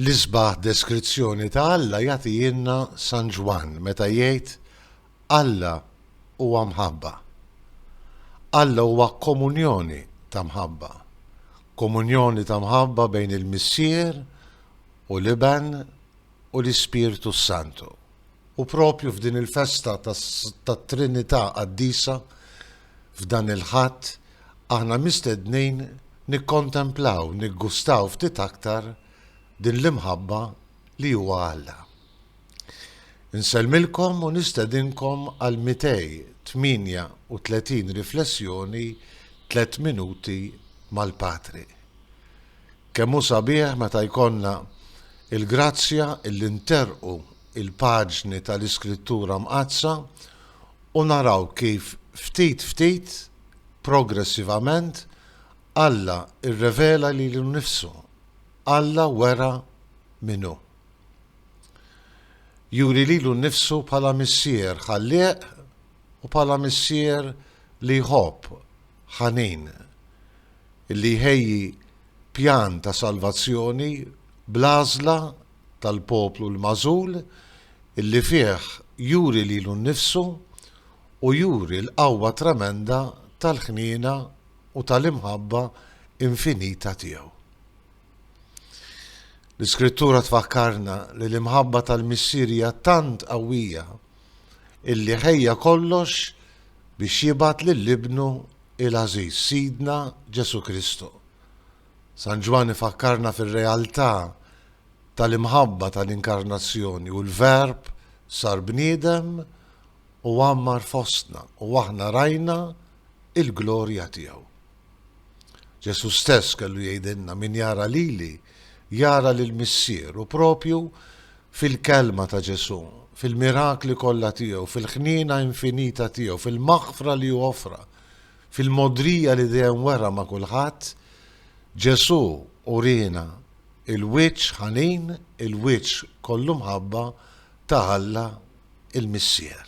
L-isbaħ deskrizzjoni ta' Alla jagħtihilna San Ġwann meta jgħid, Alla huwa mħabba. Alla huwa komunjoni ta' mħabba. Komunjoni ta' mħabba bejn il-Missier u l-Iben u l-Ispirtu s-Santu. U propju f'din il-festa tat-Trinità Qaddisa, f'dan il-Ħadd, aħna mistednin nikkontemplaw, niggustaw ftit aktar din l-imħabba li huwa Alla. Insellmilkom u nistedinkom għal 238 riflessjoni Tliet Minuti mal-Patri. Kemm hu sabiħ meta jkollna l-grazzja li nterrqu l-paġni tal-Iskrittura Mqaddsa u naraw kif ftit ftit, progressivament, Alla rrevela lilu nnifsu, Alla wera min hu. Juri lilu nnifsu bħala Missier ħallieq u bħala Missier li jħobb, ħanin, li jħejji pjan ta' salvazzjoni bl-għażla tal-poplu l-magħżul li fih juri lilu nnifsu u juri l-qawwa tremenda tal-ħniena u tal-imħabba infinita tiegħu. L-Iskrittura tfakkarna li l-imħabba tal-Missier hija tant qawwija illi ħejja kollox biex jibgħat lil Ibnu il-għażiż Sidna Ġesù Kristu. San Ġwann ifakkarna fir-realtà tal-imħabba tal-Inkarnazzjoni u l-Verb sar bniedem u għammar fostna u aħna rajna il-glorja tiegħu. Ġesù stess kellu jgħidilna min jara lili jara lill-Missier u propju fil-Kelma ta' Ġesù, fil-mirakli kollha tiegħu, fil-ħniena infinita tiegħu, fil-maħfra li hu offra, fil-mogħdrija li dejjem wera ma' kulħadd, Ġesù uriena l-wiċċ ħanin, il-wiċċ kollu mħabba ta' Alla l-Missier.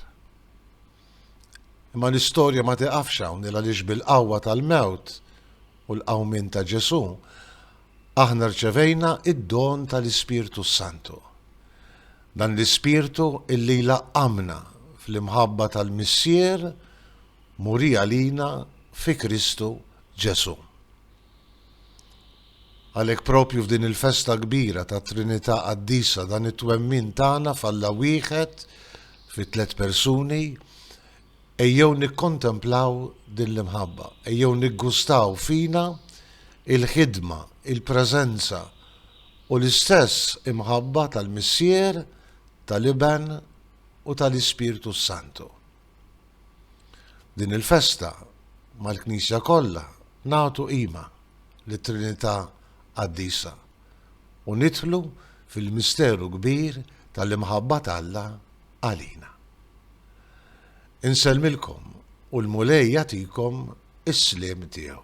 Imma l-istorja ma tiqafx hawn, il għaliex bil-qawwa tal-mewt u l-qawmien ta' Ġesù, Aħna rċevejna id-don tal-Ispirtu s-Santu. Dan l-Ispirtu illi jlaqqamna fl-imħabba tal-Missier muri għalina fi Kristu Ġesù. Għalhekk propju f'din il-festa kbira tat-Trinità Qaddisa dan it-twemmin tagħna f'Alla wieħed fi tliet persuni Ejjew nikkontemplaw din l-imħabba, ejjew niggustaw fina l-ħidma, il-preżenza u l-istess imħabba tal-Missier, tal-Iben u tal-Ispirtu s-Santu. Din il-festa, mal-Knisja kollha, nagħtu qima lit-Trinità Qaddisa. u nidħlu fil-misteru kbir tal-imħabba t'Alla għalina. Insellmilkom u l-Mulej jagħtikom is-sliem tiegħu.